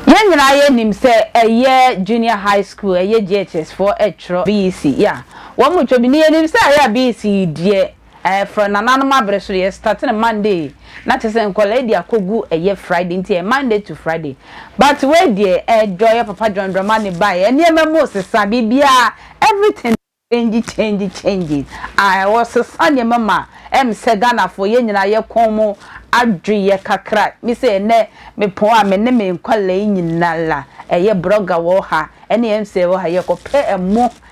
Yɛn nyinaa yɛ nim sɛ ɛyɛ junior high school ɛyɛ JHS foɔ ɛtwerɛ BEC yeah wɔn mo twɛ bi ne yɛ nim sɛ ɛyɛ BEC deɛ Ɛɛ frɛ nananom abere so yɛ start no Monday na kyerɛ sɛ nkwadaa yi de akɔ gu ɛyɛ Friday nti ɛyɛ Monday to Friday but wei deɛ ɛɛ Joy yɛ papa John Dramani baa yɛ nneɛma mu sesa biribiara everything change change change ae ɔsesa nneɛma ma ɛm sɛ Ghanafoɔ yɛn nyinaa yɛ kɔn mu adwo yɛ kakra me sɛ ɛnɛ me pɔn a me ne me nkwadaa yi nyinaa ɛyɛ brɔga wɔ ha ɛne ɛm sɛ wɔ ha yɛ kɔ pɛ ɛmo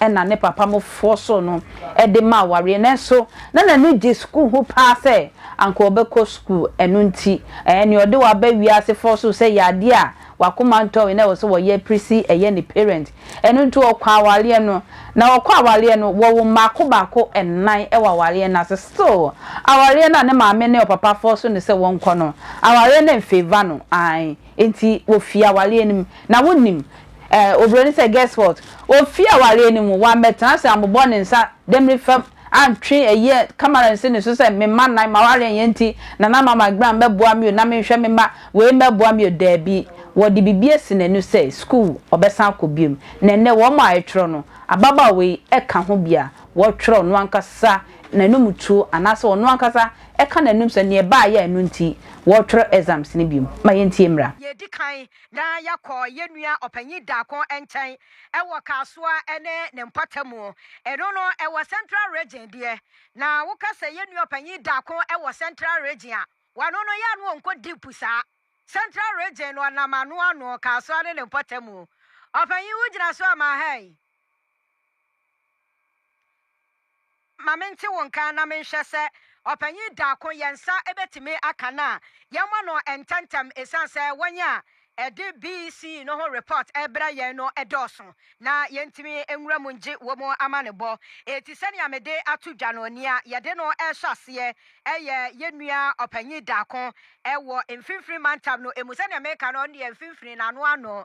na ne papa mo foɔ so no de ma awareɛ nanso na n'ani gye sukuu ho paa sɛ anka ɔbɛkɔ sukuu ɛno nti ɛɛ nea ɔde waba wiase foɔ so sɛ yɛ adeɛ a wakoma ntɔ wei na ɛwɔ sɛ wɔyɛ pere si ɛyɛ ne parent ɛno nti ɔkɔ awareɛ no na ɔkɔ awareɛ no wɔwo mmaako baako nnan wɔ awareɛ no ase still awareɛ no a ne maame ne ɔpapa foɔ so ne sɛ wɔnkɔ no awareɛ no mfeeva no ae nti wɔfii awareɛ no mu na wonim Eh, Oburoni sɛ, Guess what? Ofii awareɛ no mu, wammɛtena ase ammobɔ ne nsa demmire fam, antwe ayie kamara ansi ne so sɛ, Me mma nnan, m'awareɛ nyɛ nti na na ama m'adwene a mmɛboa me o, na menhwɛ me mma wei mmɛboa me o. Daabi, wɔde biribi asi n'ani sɛ, sukuu ɔbɛsan akɔ bio. Na ɛnnɛ, wɔn a ɛtwerɛ no, ababaawa yi ka ho bi a wɔtwerɛ ɔno ankasa n'anumtuo anaasɛ ɔno ankasa ka n'anum sɛ, Deɛ ɛbaeɛ a ɛno nti wɔretwerɛ exams no bio. Ma yɛntie mmra. Deɛ ɛdi kan, na yɛkɔɔ yɛn nua ɔpanyin Darko nkyɛn wɔ Kasoa ne ne mpɔtamu. Ɛno no, ɛwɔ Central Region deɛ. Na woka sɛ yɛn nua ɔpanyin Darko wɔ Central Region a, wano no yɛ a na ɔnkɔ deep saa. Central Region no, ɔnam ano ano, Kasoa ne ne mpɔtamu. Ɔpanyin, wogyina so ama ha yi? Ma mente wo nka na menhwɛ sɛ ɔpanyin daako yɛn nsa betumi aka no a, yɛmma no ntɛmntɛm esiane sɛ wɔn a ɛde BEC no ho repɔt rebrɛ yɛn no dɔɔso na yentumi nwura mu ngye wɔn amanebɔ. Enti sɛnea mede ato dwa no, nea yɛde no rehyɛ aseɛ yɛ yɛn nua ɔpanyin daako wɔ Mfinfini Mantam no mu. Sɛnea meka no, ɔno deɛ Mfinfini no ano ano.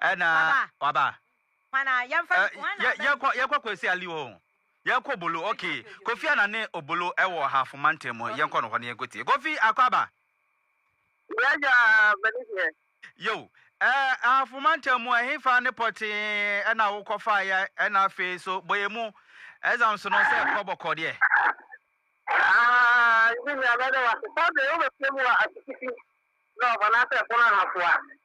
Ɛna Waba. waba. Hwan a yɛmfa Ɛ, no? Hwan na yɛ- aba yɛkɔ no? yɛkɔ kwasi ali hɔ o. yɛkɔ obolo ok kofi ana ne obolo ɛwɔ ahafo mantam mu yɛnkɔ no hɔ no yɛnkɔtie kofi akɔ aba Yɛagya bɛne deɛ. yo ɛ ahafo mantam mu ɛhefa ne pɔtee ɛna wokɔ faeɛ ɛna afei so bɔyɛ mu exam so no sɛ ɛkɔ bɔkɔ deɛ Ah, nti nea mɛde wase sɛ de wobɛpie mu wɔ asukiti na ɔbɔ n'asɛ ɛpono ahafoa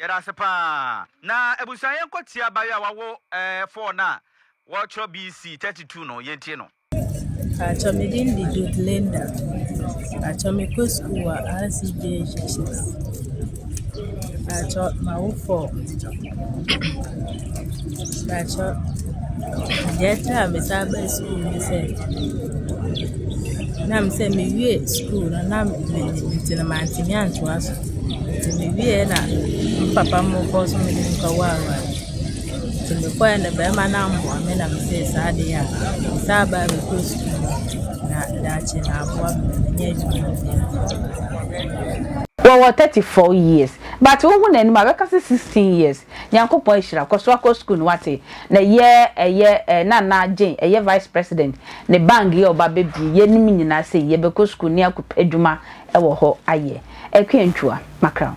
Yɛda ase paa. Na abusua yɛnkɔ tie abayewa a wawo ɛɛ four no a wɔkyerɛ BC thirty two no yɛntie no. Paatwɔ me din de Dud Linda. Paatwɔ me kɔ sukuu wɔ RCJ Jeshis. Paatwɔ ma wo fɔ. Mpakyɛw, deɛ ɛtra a me san baa sukuu ne sɛ, na me sɛ me wie sukuu no na me nnim nti no mantumi antoa so. Nti me wie yɛ na me papa mo kɔɔ so me de me kɔ waawaa mu. Nti me kɔɛ no bɛɛma no ammoa me na me see saa ade yɛ a me san baa me kɔɔ sukuu na daakye na aboa me ma manya adwuma bi ayɛ. Wɔwɔ thirty four years but wohu n'anim a bɛka sɛ sixteen years Nyankopɔn ahyira kɔ so akɔ school no wate na yɛ ɛyɛ eh Nana Jane ɛyɛ vice president ne bang yɛ ɔba bɛ bie yɛ nom nyinaa sei yɛ bɛ kɔ school ne akɔ pɛ adwuma ɛwɔ hɔ ayɛ Akuantwua Mackerel.